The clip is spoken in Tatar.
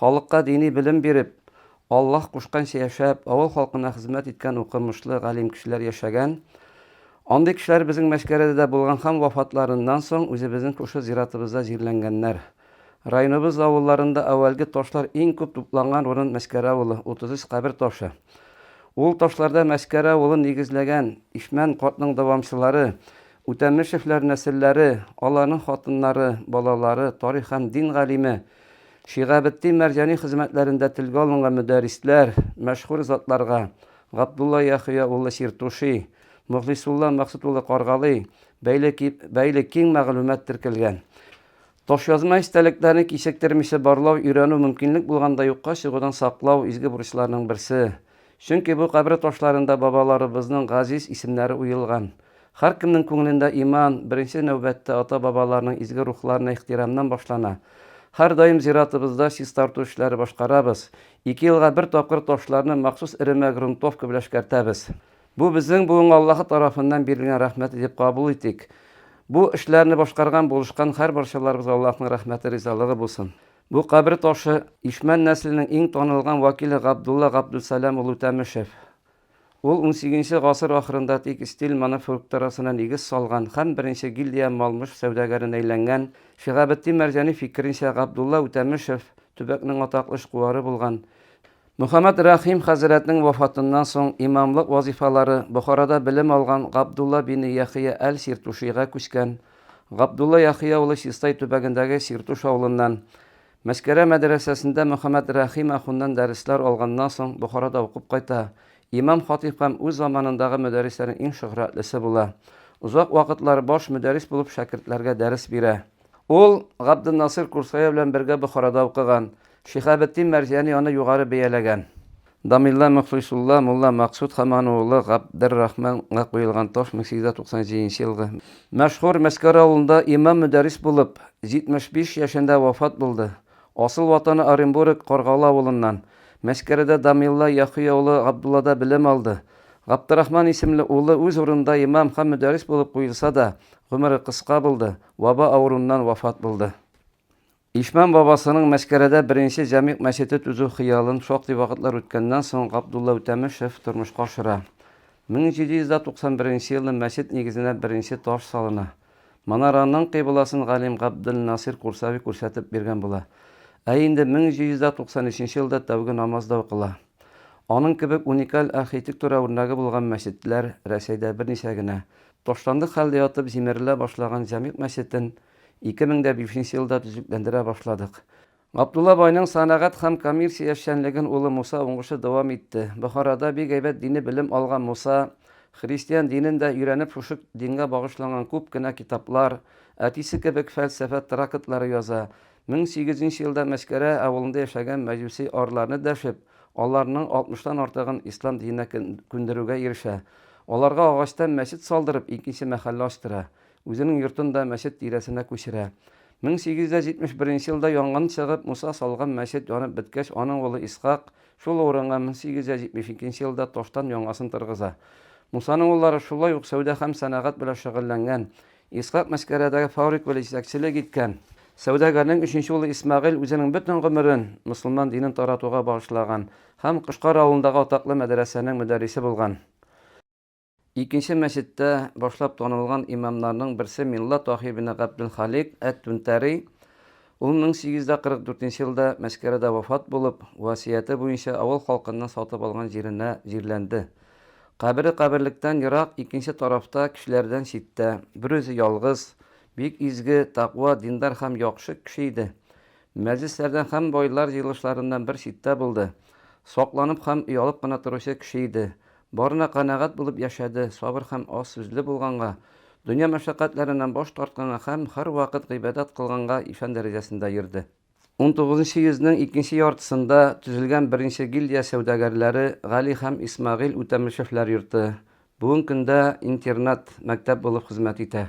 Халыкка дини белем биреп, Аллаһ кушканча яшәп, авыл халкына хезмәт иткән укымышлы, галим кешеләр яшәгән. Андый кешеләр безнең Мәчкәрәдә дә булган һәм вафатларыннан соң үзебезнең шушы зиратыбызда җирләнгәннәр. Районыбыз авылларында әүвәлге ташлар иң күп тупланган урын Мәчкәрә авылы, 33 кабер ташы. Ул ташларда Мәчкәрә авылын нигезләгән Ишмән картның дәвамчылары, Үтәмешевләр нәселләре, аларның хатыннары, балалары, тарих һәм дин галиме, Шиһабетдин Мәрҗани хезмәтләрендә телгә алынган мөдәррисләр, мәшһүр затларга, Габдулла Яхъя улы Чиртуши, Мохлисулла Максут улы Каргалы, бәйле бәйле киң мәгълүмат теркәлгән. Ташъязма истәлекләрне кичектермичә барлау, өйрәнү, мөмкинлек булганда юкка чыгудан саклау, изге бурычларның берсе. Чөнки бу кабер ташларында бабаларыбызның газиз исемнәре уелган. Һәркемнең күңелендә иман, беренче нәүбәттә ата-бабаларның изге рухларына ихтирамнан башлана. Һәрдаим зиратыбызда чистарту эшләре башкарабыз. Ике елга бер тапкыр ташларны махсус эремә грунтовка белән эшкәртәбез. Бу безнең буынга Аллаһы тарафыннан бирелгән рәхмәт итеп кабул итик. Бу эшләрне башкарган, булышкан һәр барчаларыбызга Аллаһның рәхмәте, ризалыгы булсын. Бу кабер ташы, Ишмән нәселенең иң танылган вәкиле Габдулла Габдулсәлам улы Тәмешев. Ул унсигезенче гасыр ахырында текстиль манафуркторасына нигез салган һәм беренче гильдия мал-мөш сәүдәгәрен әйләнгән. Шиһабетдин Мәрҗани фикеренчә, Габдулла Үтәмешев, төбәкнең атаклы эшкуары булган. Мөхәммәд Рәхим хәзрәтнең вафатыннан соң имамлык вазифалары Бохарада белем алган Габдулла бине Яхия әл-Сиртушига күчкән. Габдулла Яхия улы Чистай төбәгендәге Сиртуш авылыннан. Мәскәрә мәдрәсәсендә Мөхәммәд Рәхим ахуннан дәресләр алганнан соң Бохарада укып кайта. Имам-хатыйб һәм үз заманындагы мөдәррисләрнең иң шөһрәтлесе була. Озак вакытлар баш мөдәррис булып шәкертләргә дәрес бирә. Ул Габденнасыйр Курсая белән бергә Бохарада укыган. Шиһабетдин Мәрзияни аны югары бәяләгән. Дамилла Мөхлисулла мулла Максут һәм аның улы Габдеррахман га куелган таш 1897 нче елгы. Мәшһүр Мәскәр авылында имам-мөдәррис булып, 75 яшендә вафат булды. Асыл ватаны Оренбург, Каргалы авылыннан. Мәскәредә Дамилла Яхъя улы Габдуллада белем алды. Габдеррахман исемле улы үз урынында имам һәм мөдәррис булып куелса да, гомере кыска булды. Баба авыруыннан вафат булды. Ишмәм бабасының Мәскәрәдә беренче җәмигъ мәчете төзү хыялын шактый вакытлар үткәннән соң Габдулла Үтәмешев тормышка ашыра. 1791 елны мәчет нигезенә беренче таш салына. Манараның кыйбласын галим Габделнасир Курсави күрсәтеп биргән була. Ә инде 1793 елда тәүге намаз да укыла. Аның кебек уникаль архитектура үрнәге булган мәчетләр Рәсәйдә берничә генә. Ташландык хәлдә ятып җимерелә башлаган Җәмигъ мәчетен 2005 нче елда төзекләндерә башладык. Габдулла байның сәнәгать һәм коммерция эшчәнлеген улы Муса уңышлы дәвам итте. Бохарада бик әйбәт дини белем алган Муса, христиан динен дә өйрәнеп шушы дингә багышланган күп кенә китаплар, әтисе кебек фәлсәфә тракытлары яза, Мең сигез йөз нче елда Мәскәрә авылында яшәгән мәҗүси арыларны дәшеп, аларның алтмыштан артыгын ислам диненә күндерүгә ирешә. Аларга агачтан мәчет салдырып, икенче мәхәллә ачтыра. Үзенең йортын да мәчет тирәсенә күчерә. Мең сигез йөз дә җитмеш беренче елда янгын чыгып, Муса салган мәчет янып беткәч, аның улы Исхак шул урынга мең сигез йөз дә җитмеш икенче елда таштан яңасын тыргыза. Мусаның уллары шулай ук сәүдә һәм сәнәгать белән шөгыльләнгән, Исхак Мәскәрәдәге фабрик белән җитәкчелек иткән. Сәүдәгәрнең өченче улы Исмәгыйль үзенең бөтен гомерен мөселман динен таратуга багышлаган һәм Кошкар авылындагы атаклы мәдрәсәнең мөдәррисе булган. Икенче мәчеттә башлап танылган имамнарның берсе Милла Таһи ибне Габделхалик әт-Түнтәри, Ул 1844 нче елда Мәскәрәдә вафат булып, васыяте буенча авыл халкыннан сатып алган җиренә җирләнде. Кабере каберлектән ерак, икенче тарафта, кешеләрдән читтә. Берүзе ялгыз. Бик изге, такъва, диндар һәм яхшы кеше иде. Мәҗлесләрдән һәм байлар җыелышларыннан бер читтә булды. Сакланып һәм оялып кына торучы кеше иде. Барына канәгать булып яшәде, сабыр һәм аз сүзле булганга, дөнья мәшәкатьләреннән баш тартканга һәм һәрвакыт гыйбадәт кылганга ишан дәрәҗәсендә йөрде. Унтугызынчы йөзнең икенче яртысында төзелгән беренче гильдия сәүдәгәрләре Гали һәм Исмәгыйль Үтәмешевләр йорты, бүген көндә интернат, мәктәп булып хезмәт итә.